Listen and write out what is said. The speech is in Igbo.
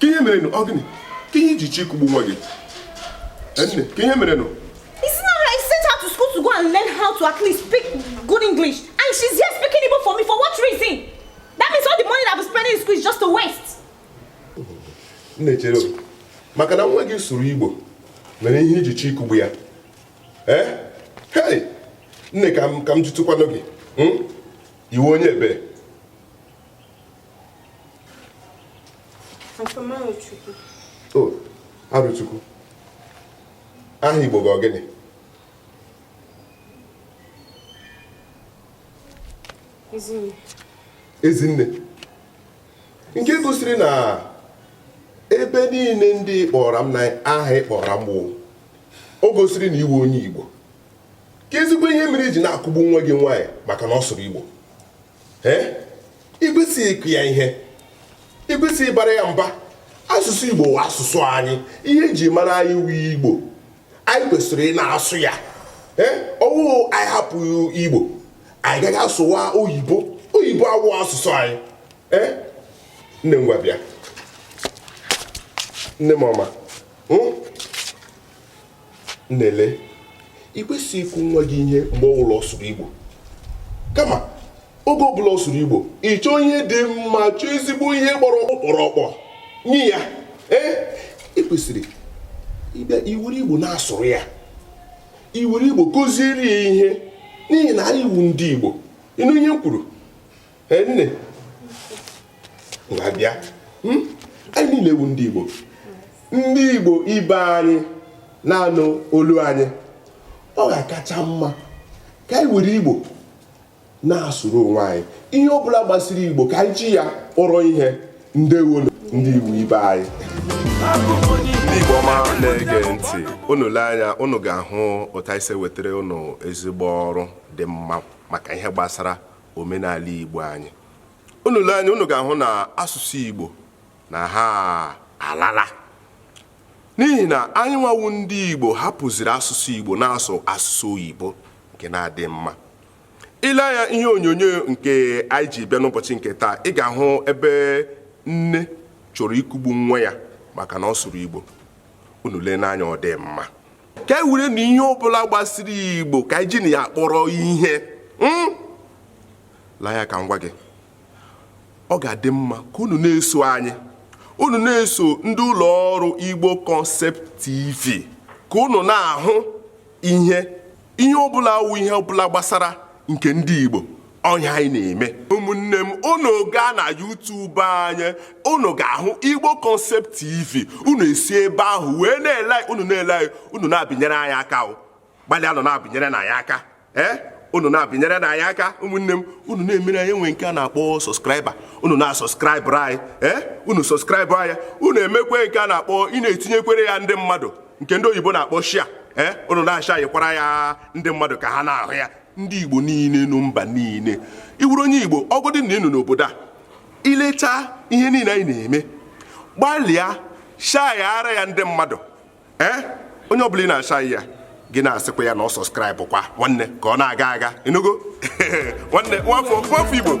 kee ihe mere ọ gịnị kee ihe iji chọọ ịkụgbu nwa gị nne kee ihe mere nụ I sent her to school to go and learn how to at least speak good English. And she's here speaking Igbo for me. For what reason? That means all the money that I've been spending in school is just a waste. Nne chere maka na nwa gị sụrụ Igbo mere ihe iji chọọ ịkụgbu ya. Eh? Hey! Nne ka m ka m jụtụkwanụ gị. Hmm? Ị wụ onye ebee. Arọchukwu aha Igbo gị ọ gịnị Ezinne nke gosiri na ebe niile ndị ị kpọọrọ m na aha ị kpọọrọ m o gosiri na ị wụ onye Igbo keezikwa ihe mere iji na-akụgbu nwa gị nwaanyị maka na ọ sụrụ Igbo ikwesịghị ịkụ ya ihe ikwesịghị ịbara ya mba asụsụ igbo wụ asụsụ anyị ihe eji mara anyị wu igbo anyị kwesịrị ị na-asụ ya ọ wụ anyị hapụ igbo anyị gaghị asụwa oyibo oyibo awụ asụsụ anyị nne m ngwa bịa nne m ọma hmm? nne lee ị kwesịghị ịkụ nwa gị ihe mgbe ọ bụla ọ sụrụ igbo kama oge ọ bụla ọ sụrụ igbo ị chọọ ihe dị mma chọọ ezigbo ihe gbara ọkpụrụkpụ nye ya ee ị kwesịrị ịbịa iwere igbo na-asụrụ ya iwere igbo kụziere ya ihe n'ihi na anyị wu ndị igbo ịnụ ihe m kwuru nne ngwa bịa hmm? anyị niile wụ ndị Igbo ndị Igbo ibe anyị na-anụ olu anyị ọ ga-akacha mma ka anyị were Igbo na-asụrụ onwe anyị ihe ọ bụla gbasiri Igbo ka anyị ji ya kpọrọ ihe ndewo ndị Igbo ibe anyị ndị Igbo ọma na-ege ntị unu lee anya unu ga-ahụ otu anyị si wetara unu ezigbo ọrụ dị mma maka ihe gbasara omenala Igbo anyị unu lee anya unu ga-ahụ na asụsụ Igbo na ha alala n'ihi na anyị nwa wụ ndị Igbo hapụziri asụsụ Igbo na-asụ asụsụ oyibo nke na-adịghị mma i lee anya ihe onyonyo nke anyị ji bịa n'ụbọchị nke taa ị ga-ahụ ebe nne chọrọ ikugbu nwa ya maka na ọ sụrụ Igbo unu lee n'anya ọ dị mma ka anyị were na ihe ọbụla gbasiri igbo ka anyị ji na ya kpọrọ ihe hmm? lee anya ka m gwa gị ọ ga-adị mma ka unu na-eso anyị unu na-eso ndị ụlọ ọrụ igbo concept tv ka unu na-ahụ ihe ihe ọbụla wụ ihe ọbụla gbasara nke ndị igbo ihe anyị na-eme ụmụnne m unu gaa na YouTube anyị unu ga-ahụ Igbo Concept TV unu esi ebe ahụ wee na-ele unu na-ele anyị unu na-abịnyere anyị aka gbalịanụ na-abịnyere anyị aka ee eh? unu na-abịnyere anyị aka ụmụnne m unu na-emere anyị ihe nke a na-akpọ subscriber unu na-asọskraịbụrụ anyị ee eh? unu sọskraịbụ anyị unu emekwe nke a na-akpọ ị na-etinyekwere ya ndị mmadụ nke ndị oyibo na-akpọ share ee eh? unu na-ashayịkwara ya ndị mmadụ ka ha na-ahụ ya ndị Igbo niile nọ mba niile ị wụrụ onye Igbo ọ godị na ị nọ n'obodo a i lecha ihe niile anyị na-eme gbalịa shayara ya ndị mmadụ ee eh? onye ọbụla ị na-ashayị ya gị na-asịkwa ya na ọ sọskraịbụkwa nwanne ka ọ na-aga aga ị nụgo nwanne nwafọ Igbo